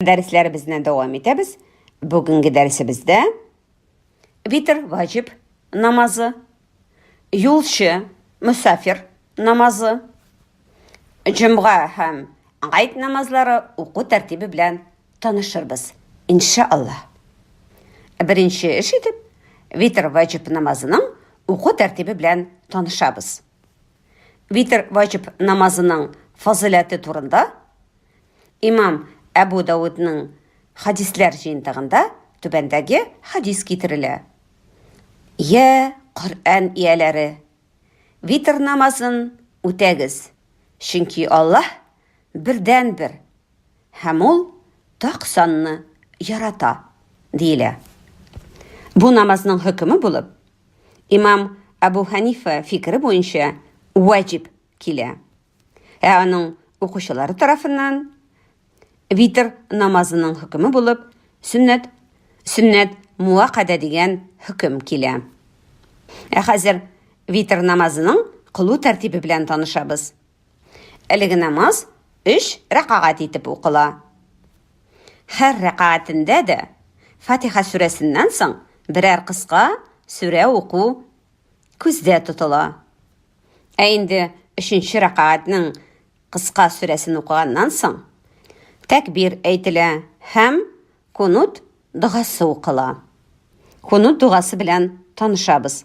Дәресләребезне дәвам итәбез. Бүгенге дәресебездә витр ваҗиб намазы, юлчы, мусафир намазы, җомга һәм гайд намазлары уку тәртибе белән танышырбыз, иншаллаһ. Беренче эш итеп, витр ваҗиб намазының уку тәртибе белән танышабыз. Витр ваҗиб намазының фазыйләте турында имам Әбү Даудның хәдисләр җыентыгында түбәндәге хәдис китерелә. Йә, Коръән ияләре, витр намазын үтәгез, чөнки Аллаһ бердәнбер, Һәм ул так санны ярата, диелә. Бу намазның хөкеме булып, имам Әбу Хәнифә фикере буенча ваҗиб килә. Ә аның укучылары тарафыннан витр намазының хөкеме булып сөннәт, сөннәт муаккадә дигән хөкем килә. Ә хәзер витр намазының кылу тәртибе белән танышабыз. Әлеге намаз өч рәкагать итеп укыла. Һәр рәкагатендә дә Фатиха сүрәсеннән соң берәр кыска сүрә уку күздә тотыла. Ә инде өченче рәкагатьнең кыска сүрәсен укыганнан соң тәкбир әйтелә һәм кунут догасы укыла. Кунут догасы белән танышабыз.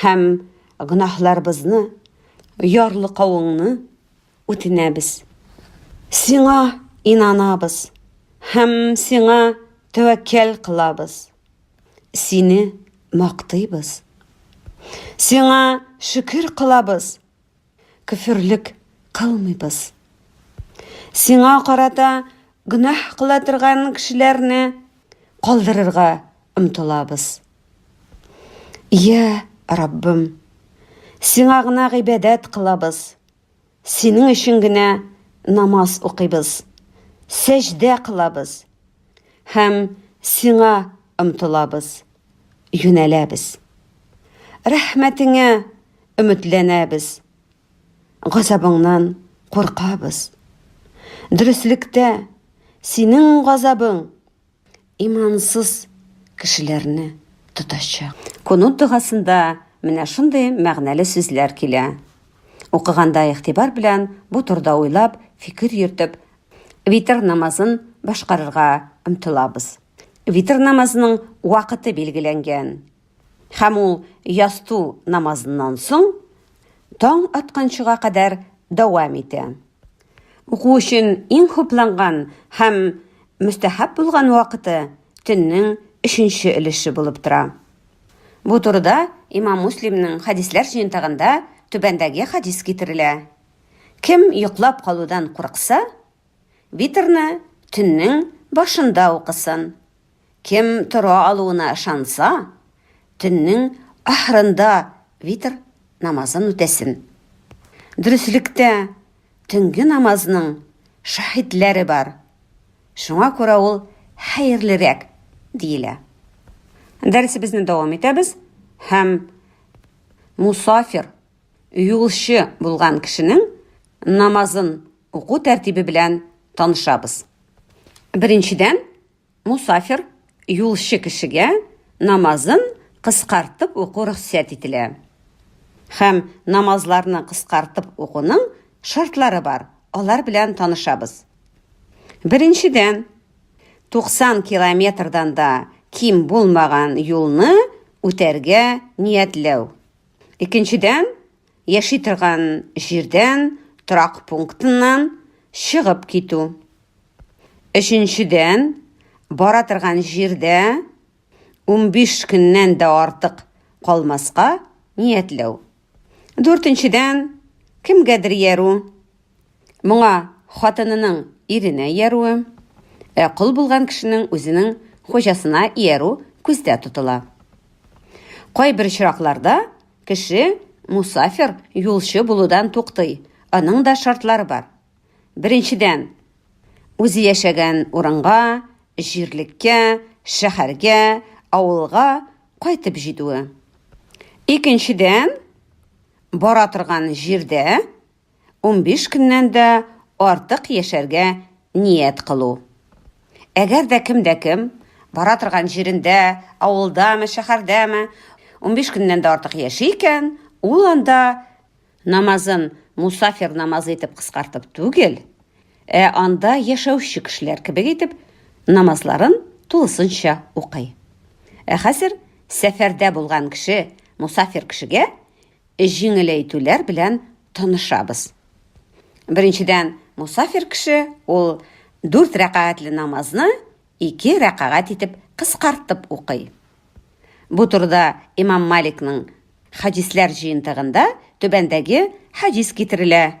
һәм гөнаһларыбызны, ярлыкавыңны үтенәбез. Сиңа инанабыз һәм сиңа тәвәккәл кылабыз. Сине мактыйбыз. Сиңа шөкер кылабыз. Көферлек кылмыйбыз. Сиңа карата гөнаһ кыла торган кешеләрне калдырырга омтылабыз. Йә, Раббым, Сиңа гына гыйбадәт кылабыз. Синең өчен генә намаз укыйбыз, сәҗдә кылабыз һәм Сиңа омтылабыз, юнәләбез. Рәхмәтеңә Өметләнәбез. Газабыңнан куркабыз. Дөреслектә синең газабың имансыз кешеләрне тотачак. Кунут догасында менә шундый мәгънәле сүзләр килә. Укыганда игътибар белән бу турда уйлап, фикер йөртеп, витр намазын башкарырга омтылабыз. Витр намазының вакыты билгеләнгән. Һәм ул ястү намазыннан соң таң атканчыга кадәр дәвам итә. Уку өчен иң хупланган һәм мөстәһаб булган вакыты төннең өченче өлеше булып тора. Бу турыда Имам Муслимның хәдисләр җыентыгында түбәндәге хәдис китерелә, Кем йоклап калудан курыкса, Витрны төннең башында укысын. Кем тора алуына ышанса, төннең ахырында витр намазын үтәсен. Дөреслектә, төнге намазның шаһитләре бар. Шуңа күрә ул хәерлерәк диелә. Дәресебезне дәвам итәбез һәм мусафир Юлчы булган кешенең намазын уку тәртибе белән танышабыз. Беренчедән, мусафир, юлчы кешегә намазын кыскартып уку рөхсәт ителә. Һәм намазларны кыскартып укуның шартлары бар, алар белән танышабыз. Беренчедән, 90 километрдан да ким булмаган юлны үтәргә ниятләү. Икенчедән, яши торган җирдән, торак пунктыннан чыгып китү. Өченчедән, бара торган җирдә 15 көннән дә артык калмаска ниятләү. Дүртенчедән, кемгәдер яру, Моңа хатынының иренә иярүе, ә кол булган кешенең үзенең хуҗасына иярү күздә тотыла. Кайбер очракларда кеше мусафир, юлчы булудан туктый, аның да шартлары бар. Беренчедән, үзе яшәгән урынга, җирлеккә, шәһәргә, авылга кайтып җитүе. Икенчедән, бара торган җирдә унбиш көннән дә артык яшәргә ният кылу. Әгәр дә кем дә кем бара торган җирендә, авылдамы, шәһәрдәме, унбиш көннән дә артык яши икән, ул анда намазын мусафир намазы итеп кыскартып түгел, ә анда яшәүче кешеләр кебек итеп намазларын тулысынча укый. Ә хәзер сәфәрдә булган кеше, мусафир кешегә җиңеләйтүләр белән танышабыз. Беренчедән, мусафир кеше ул дүрт рәкәгатьле намазны ике рәкәгать итеп кыскартып укый. Бу турыда имам Маликның хәдисләр җыентыгында түбәндәге хәдис китерелә,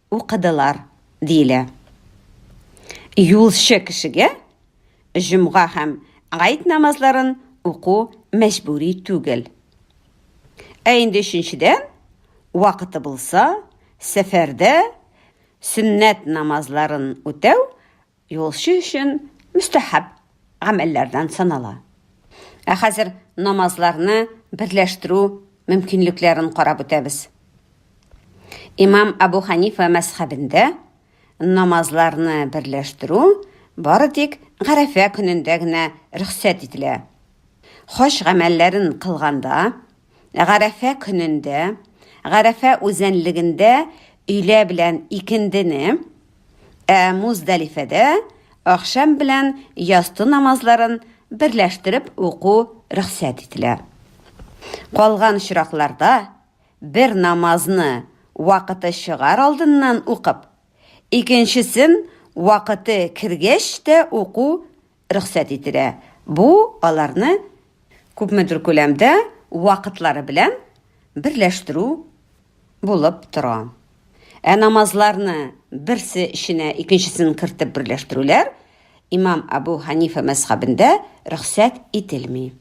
Укыдылар, диелә. Юлчы кешегә җомга һәм гает намазларын уку мәҗбүри түгел. Ә инде өченчедән, вакыты булса, сәфәрдә сөннәт намазларын үтәү Юлчы өчен мөстәхәб гамәлләрдән санала. Ә хәзер намазларны берләштерү мөмкинлекләрен карап үтәбез. Имам Абу Ханифа мәзхәбендә намазларны берләштерү бары тик Гарәфә көнендә генә рөхсәт ителә. Хаҗ гамәлләрен кылганда, Гарәфә көнендә, Гарәфә үзәнлегендә өйлә белән икендене Ә Муздалифәдә ахшам белән ясты намазларын берләштереп уку рөхсәт ителә. Калган очракларда бер намазны вакыты чыгар алдыннан укып, икенчесен вакыты кергәч тә уку рөхсәт ителә. Бу аларны күпмедер күләмдә вакытлары белән берләштерү булып тора. Ә намазларны берсе эченә икенчесен кертеп берләштерүләр имам Абу Ханифа мәзхәбендә рөхсәт ителми.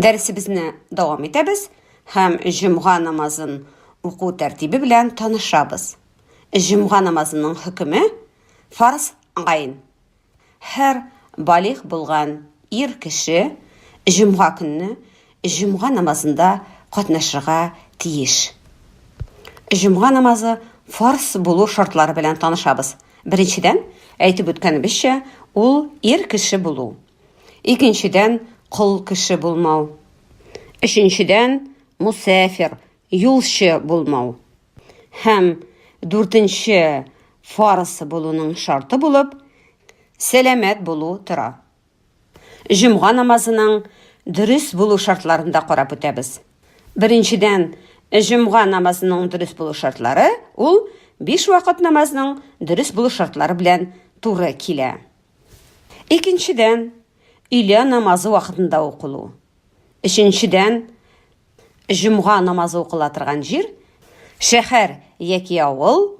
Дәресебезне дәвам итәбез һәм җомга намазын уку тәртибе белән танышабыз. Җомга намазының хөкеме фарз гайн. Һәр балигъ булган ир кеше җомга көнне җомга намазында катнашырга тиеш. Җомга намазы фарз булу шартлары белән танышабыз. Беренчедән, әйтеп үткәнебезчә, ул ир кеше булу. Икенчедән, кол кеше булмау. Өченчедән, мусәфир, юлчы булмау. Һәм дүртенче фарс булуның шарты булып, сәламәт булу тора. Җомга намазының дөрес булу шартларын да карап үтәбез. Беренчедән, җомга намазының дөрес булу шартлары ул биш вакыт намазның дөрес булу шартлары белән туры килә. Икенчедән, өйлә намазы вакытында укылу. Өченчедән, җомга намазы укыла торган җир, шәһәр яки авыл,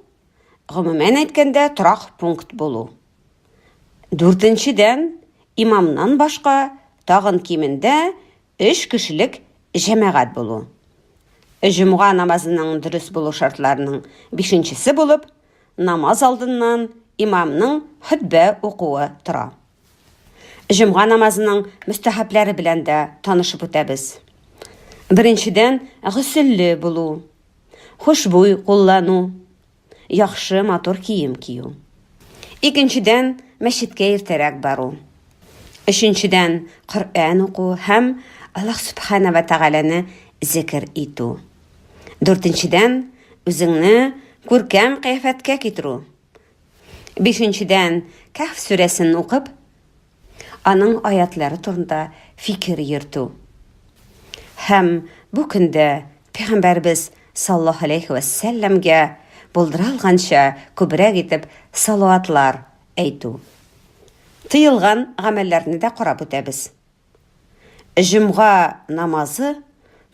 гомумән әйткәндә, торак пункт булу. Дүртенчедән, имамнан башка тагын кимендә Өч кешелек җәмәгать булу. Җомга намазының дөрес булу шартларының бишенчесе булып, намаз алдыннан имамның хөтбә укуы тора. Җомга намазының мөстәхәбләре белән дә танышып үтәбез. Беренчедән, гөселле булу, хушбуй куллану, яхшы, матур кием кию. Икенчедән, мәчеткә иртәрәк бару. Өченчедән, Коръән уку һәм Аллаһ Субхана ва Тәгаләне зикер итү. Дүртенчедән, үзеңне күркәм кыяфәткә китерү. Бишенчедән, Кәһф сүрәсен укып, аның аятлары турында фикер йөртү. Һәм бу көндә Пәйгамбәрбез саллаллаһу алейхи вә сәлләмгә булдыралганча күбрәк итеп салаватлар әйтү. Тыелган гамәлләрне дә карап үтәбез. Җомга намазы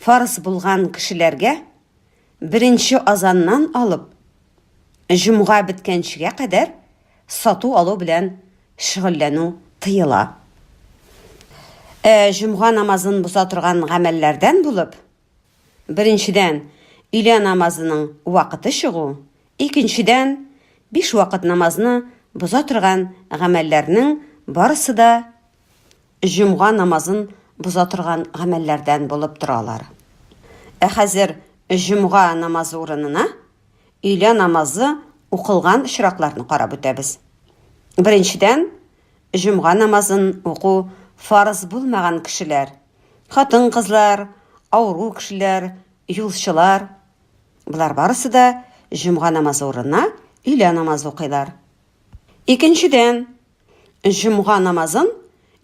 фарыз булган кешеләргә беренче азаннан алып Җомга беткәнчегә кадәр сату-алу белән шөгыльләнү тыела. Ә җомга намазын боза торган гамәлләрдән булып, беренчедән, өйлә намазының вакыты чыгу, икенчедән, биш вакыт намазны боза торган гамәлләрнең барысы да җомга намазын боза торган гамәлләрдән булып тора алар. Ә хәзер җомга намазы урынына өйлә намазы укылган очракларны карап үтәбез. Беренчедән, җомга намазын уку фарыз булмаган кешеләр, хатын-кызлар, авыру кешеләр, юлчылар, болар барысы да җомга намазы урынына өйлә намазы укыйлар. Икенчедән, Җомга намазын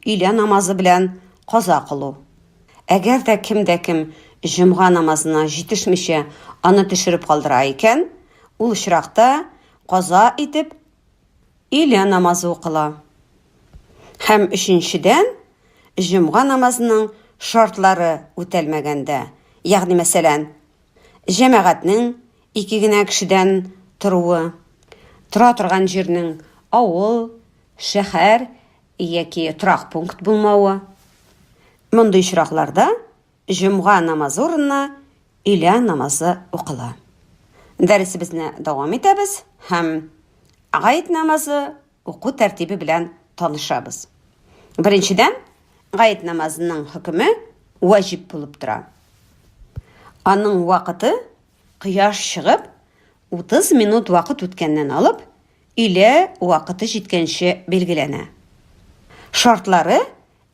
өйлә намазы белән каза кылу. Әгәр дә кем дә кем җомга намазына җитешмичә аны төшереп калдыра икән, ул очракта каза итеп өйлә намазы укыла. Һәм өченчедән, җомга намазының шартлары үтәлмәгәндә, ягъни мәсәлән, җәмәгатьнең Ике генә кешедән торуы, тора торган җирнең авыл, шәһәр яки торак пункт булмавы. Мондый очракларда җомга намазы урынына өйлә намазы укыла. Дәресебезне дәвам итәбез һәм гает намазы уку тәртибе белән танышабыз. Беренчедән, гает намазының хөкеме ваҗиб булып тора. Аның вакыты Кояш чыгып, 30 минут вакыт үткәннән алып, өйлә вакыты җиткәнче билгеләнә. Шартлары,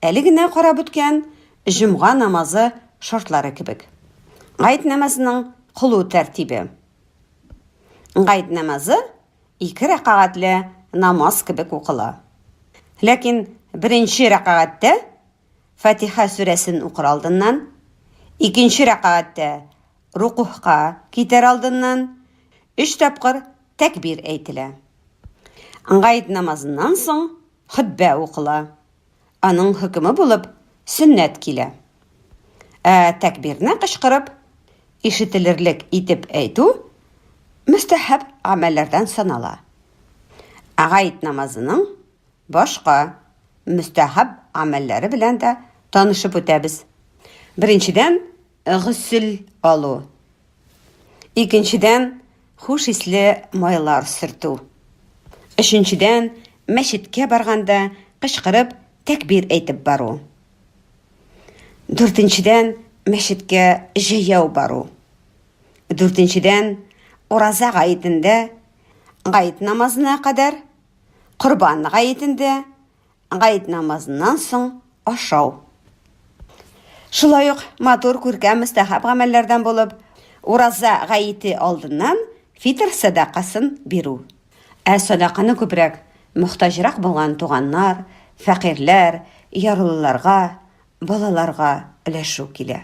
әле генә карап үткән җомга намазы шартлары кебек. Гает намазының кылу тәртибе. Гает намазы ике рәкагатьле намаз кебек укыла. Ләкин беренче рәкагатьтә Фатиха сүрәсен укыр алдыннан, икенче рәкәгатьтә рукугъка китәр алдыннан өч тапкыр тәкбир әйтелә. Гает намазыннан соң хөтбә укыла. Аның хөкеме булып сөннәт килә. Ә тәкбирне кычкырып, ишетелерлек итеп әйтү мөстәһаб гамәлләрдән санала. Гает намазының Башка мөстәхәб гамәлләре белән дә танышып үтәбез. Беренчедән, гөсел алу. Икенчедән, хуш исле майлар сөртү. Өченчедән, мәчеткә барганда кычкырып тәкбир әйтеп бару. Дүртенчедән, мәчеткә җәяү бару. Дүртенчедән, ураза гаетендә гаит намазына кадәр Корбан гаетендә гает намазыннан соң ашау. Шулай ук матур күркәм мөстәхәб гамәлләрдән булып, ураза гаете алдыннан фитр сәдакасын бирү. Ә сәдаканы күбрәк мохтаҗрак булган туганнар, фәкыйрьләр, ярлыларга, балаларга өләшү килә.